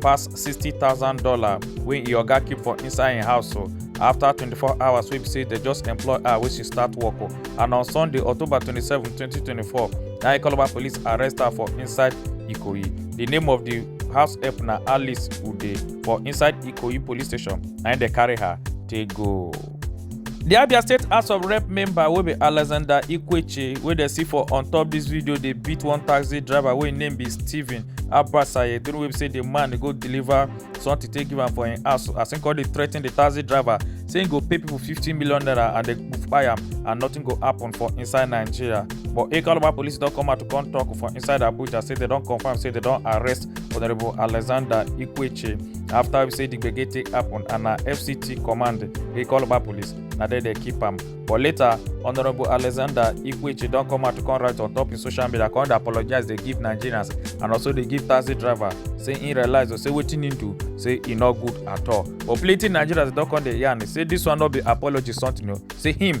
pass $60000 wey im oga keep for inside im house o afta 24 hours wey be say dem just employ her wey she start work o and on sunday october 27 2024 na ikoloba police arrest her for inside ikoyi di name of di house help na alice ude for inside ikoyi police station na im dem carry her take go. di abia state house of rep member wey be alexander ikweche wey dem see for on top dis video dey beat one taxi driver wey im name be stephen abasaye during wey be say di man go deliver something take give am for im house as im come dey threaten di taxi driver say im go pay pipo fifteen million naira and dem go kpai am and nothing go happen for inside nigeria but ekaloba police don come out to come tok for inside abuja say dem don confam say dem don arrest Honorable Alexander Ikweche. After we say the gbege take happen and na FCT command we call Oba police, na there they keep am. But later, Honorable Alexander Ikweche don come out to come write on top his social media, come dey apologize, dey give Nigerians and also dey give taxi driver say he realize or say wetin he do say e no good at all. But plenty Nigerians don come dey yarn say this one no be apology something o, say him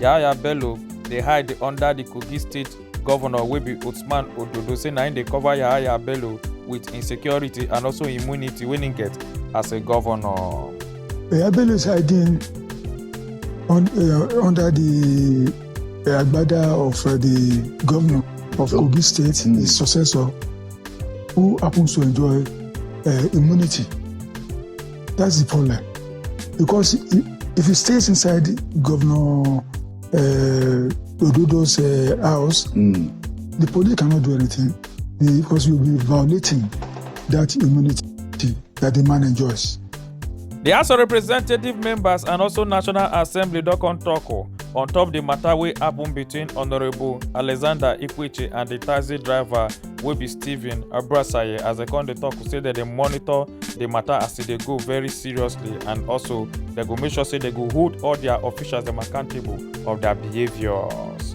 Yahaya Bello dey hide under di Kogi State governor wey be Usman Ododo say na im dey cover Yahaya Bello with im security and also immunity wey im get as a governor. Yahaya Bello is hiding on, uh, under the uh, agbada of uh, the governor of Kogi State, mm. his successor, who happens to enjoy uh, immunity. That's the problem. Because if he stays inside Governor uh, Ododo's uh, house, mm. the police cannot do anything because you'll be violating that immunity that the man enjoys. The House of Representative members and also National Assembly don come talk oh, on top the matter wey happen between Honourable Alexander Ikwichi and the taxi driver wey be stephen abrasaye as dem come dey tok say dem dey monitor di matter as e dey go very seriously and also dem go make sure say dem go hold all dia officials dem accountable of dia behaviours.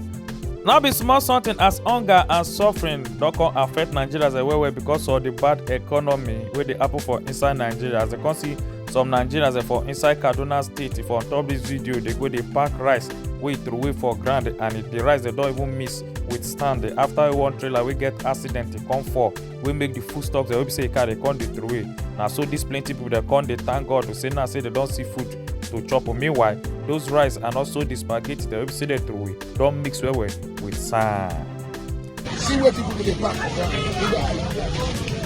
no be small something as hunger and suffering don come affect nigerians well well because of di bad economy wey dey happen for inside nigeria as dem come see some nigerians for inside kaduna state for on top dis video dey go dey pack rice wey e throway for ground and di rice dem don even miss with stand eh, after one trailer wey get accident e come fall wey make the food stocks wey be say e carry come dey throway na so these plenty people dey come dey thank god to say now say they don see food to chop meanwhile those rice and also the spaghetti dem wey be say dey throway don mix well well with sand. see where people dey park for ground.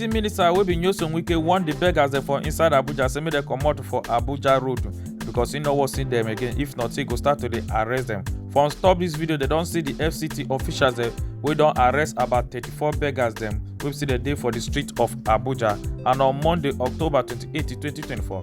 di minister wey be nyoson wike warn di beggers dem for inside abuja say make dem comot for abuja road because e no wan see dem again if not e go start to dey arrest dem for on top dis video dem don see di fct officials dem wey don arrest about 34 beggers dem wey be say dem dey for di street of abuja and on monday october 28 2024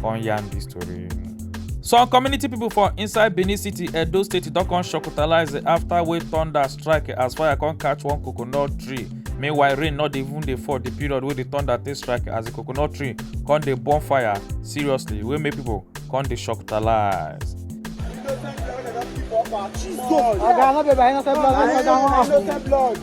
come yarn the story. some community people for inside benin city edo state don come shocktalize after wey thunder strike as fire come catch one coconut tree meanwhile rain no dey even dey fall the period wey the thunder take strike as the coconut tree come dey burn fire seriously wey make people come dey shocktalize. Oga, no be by innocent blood, make oga wan happen.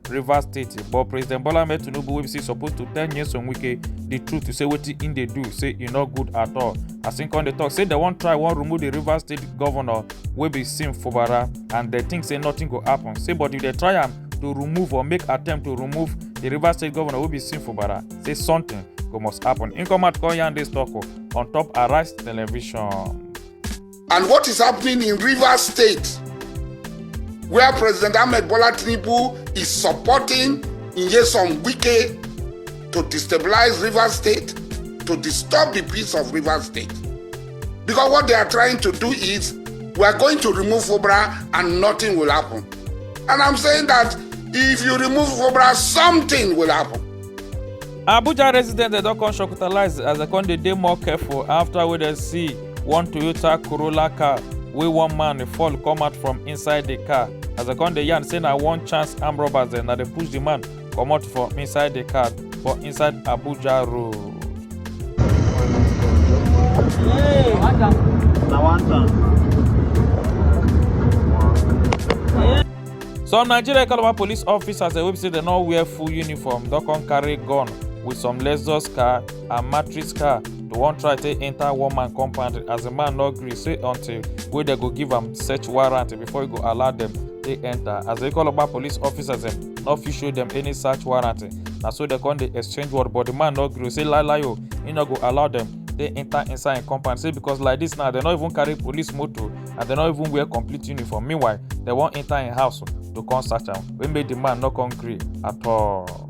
rivers state but president bola ahmed tinubu wey be say suppose to tell nyesom wike the truth to say wetin im dey do say e no good at all as im come dey talk say dem wan try wan remove the rivers state governor wey be sim fubara and dem think say nothing go happen say but if dem try am to remove or make attempt to remove the rivers state governor wey be sim fubara say something go must happen im come out come yarn dis talk on top arise television. And what is happening in Rivers State, where President Ahmed Bola Tinubu is supporting Nyesom Wike to destabilize Rivers State, to disturb the peace of Rivers State. Because what they are trying to do is, we are going to remove Fobra and nothing will happen. And I'm saying that if you remove Fobra, something will happen. abuja residents dem don come shocktalize as dem come dey dey more careful after wey dem see one toyota corolla car wey one man fall come out from inside di car as dem come dey yarn say na one chance armed robbers dem na dey push di man comot for inside di car for inside abuja road. na one time. some nigeria calabar police officers wey be say dem no wear full uniform don come carry gun with some lexus car and matrix car to wan try take enter one man compound as the man no gree say until wey dem go give am search warrant before e go allow dem take enter as they call oba police officers dem no fit show dem any search warrant na so dem come dey exchange word but the man no gree say lie lie o he no go allow dem dey enter inside im compound say because like this now dem no even carry police motor and dem no even wear complete uniform meanwhile dem wan enter im house to come search am wey make the man no come gree at all.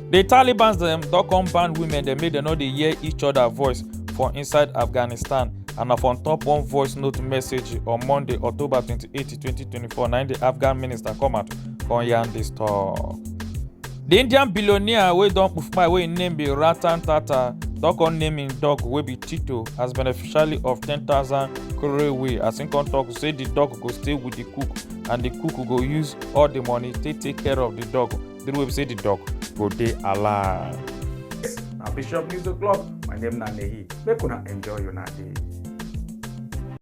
di taliban dem don come ban women dem make dem no dey hear each oda voice for inside afghanistan and na for top one voice note message on monday october 28 2024 na di afghan minister come out come yarn dis tok. di indian billionaire wey don kpufuma wey im name be ratan tata don come name im dog wey be tito as beneficiary of 10000 crore wey as im come tok say di dog go stay wit di cook and di cook go use all di money take take care of di dog the way we say the dog go dey alive. na bishop news o'clock my name na nehi make una enjoy una day.